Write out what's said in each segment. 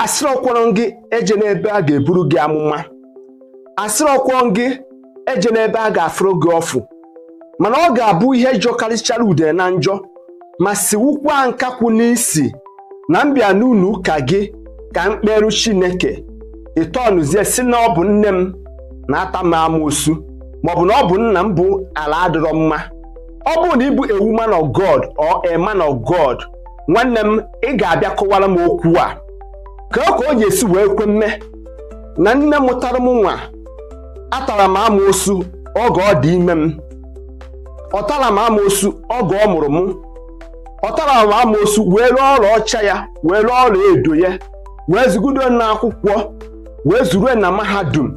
asịrọkwọrọ gị ejena ebe a ga-eburu gị amụma asịrọkwọrọ gị ejena ebe a ga-afụrụ gị ọfụ mana ọ ga-abụ ihe jọkarịchara udene njọ ma siwukwa nkakwụ n'isi na m bịa n'ụlọ ụka gị ka m kpeeru chineke ị turnzie sị na ọ bụ nne m na-ata m amoosu maọbụ na ọ bụ nna m bụ ala adịrọ mma ọ bụrụ na ị bụ a woman of God or a man of God nwanne m ị ga-abịa kọwara m okwu a ka ọ ka ọ ga-esi wee kwe mme na nne mụtara m nwa atara m amoosu oge ọ dị ime m ọ tara m amoosu oge ọ mụrụ m ọ tara m amoosu wee ree ọla ọcha ya wee ree ọla edo ya wee zụgido m n'akwụkwọ wee zụruo m na mahadum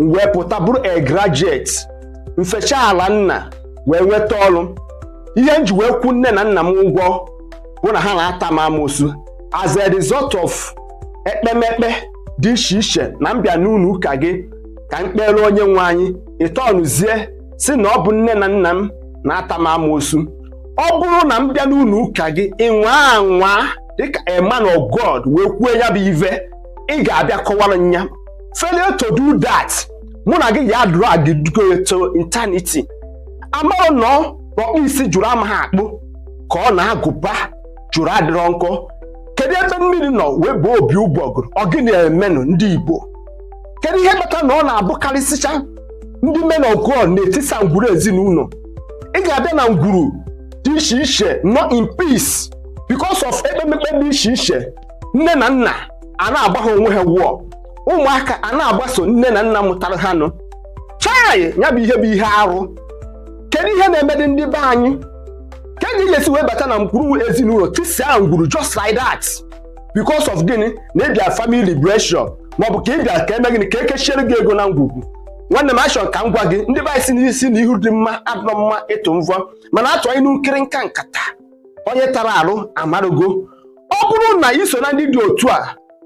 m wee pụta bụrụ a graduate m fecha ala nna wee nweta ọrụ ihe m ji wee kwụọ nne na nna m ụgwọ bụ na ha na-ata m amoosu as a result of ekpemekpe dị iche iche na m bịa n'ụlọ ụka gị ka m kpeere onye nwe anyị ị turnzie sị na ọ bụ nne na nna m na-ata m amoosu ọ bụrụ na m bịa n'ụlọ ụka gị ị nwaa anwa dịka a man of God wee kwuo ya bụ ive ị ga-abịa kọwara m ya failure to do that mụ na gị ga-adrag go to eternity amarọ na ọ na ọkpụ isi jụrụ amaghị akpụ ka ọ na agụba jụrụ adịrọ nkọ kedu ebe mmiri nọ wee baa opi ụgbọgụrụ ọ gịnị na-emenụ ndị igbo kedu ihe kpata na ọ na-abụkarịsịcha ndị men of God na-etisa ngwuru ezinụlọ ị ga-abịa na ngwuru dị iche iche nọ in peace because of ekpemekpe dị iche iche nne na nna a na-agba ha onwe ha wụọ ụmụaka a na-agbaso nne na nna mụtara ha nụ chai ya bụ ihe bụ ihe arụ kedu ihe na-emedị ndị be anyị kee ka ị ga-esi wee bata na ngwuru ezinụlọ tisia ngwuru just like that because of gịnị na ị bịa family liberation maọbụ ka ị bịa ka e mee gịnị ka e kechiere gị ego na ngwugwu nwanne m achọrọ ka m gwa gị ndị be anyị sị na isi na ihu dị mma adịrọ mma ịtụ mvọ mana a tụa inu nkirinka nkata onye tara arụ amarugo ọ bụrụ na i so na ndị dị otu a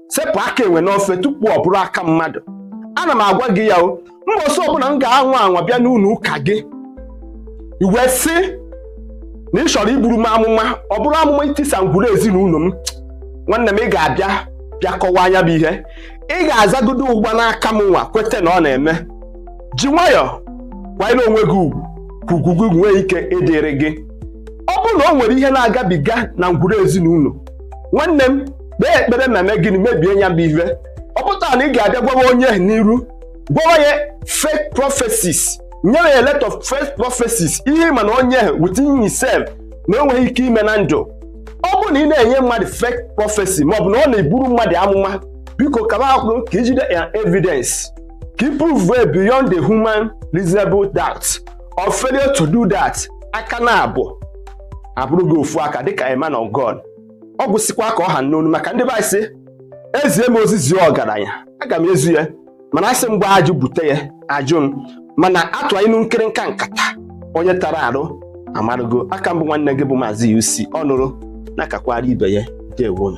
sepụ aka enwe n'ofe tupu ọ bụrụ aka mmadụ ana m agwa gị ya o mbọsị ọbụla m ga-anwa anwa bịa n'ụlọ ụka gị ị wee sị na ị chọrọ iburu m amụma ọ bụrụ amụma itisa ngwuru ezinụlọ m nwanne m ị ga-abịa bịa kọwaa nya bụ ihe ị ga-azagodo ụgba n'aka m nwa kweta na ọ na-eme ji nwayọọ kwanyere onwe gị ugwu ka ugwu gị nwee ike ịdịrị gị ọ bụrụ na o nwere ihe na-agabiga na ngwuru ezinụlọ nwanne m kpee ekpere ma mee gịnị mebie ya bụ ihe ọ pụtara na ị ga-abịa gwawa onye ahụ n'iru gwawa ya fake prophecies nyewe ya a lot of fake prophecies ihe ị ma na onye ahụ within himself na o nweghị ike ime na ndụ ọ bụrụ na ị na-enye mmadụ fake prophecy maọbụ na ọ na-eburu mmadụ amụma biko kaba akwụrụ ka i jide ya evidence ka i prove beyond the human reasonable doubt or failure to do that aka naabọ abụrụ gị ofu aka dịka a man of God ọ gwụsịkwa ka ọ ha m n'ọnụ maka ndị be anyị sị e zie m ozi zie ọgaranya aga m ezi ya mana a sị m gbaa ajụ bute ya ajụ m mana a tụa inu nkịrịnka nkata onye tara arụ amarụgo a ka m bụ nwanne gị bụ maazị UC ọ nụrụ na-akakwara ibe ya ndewo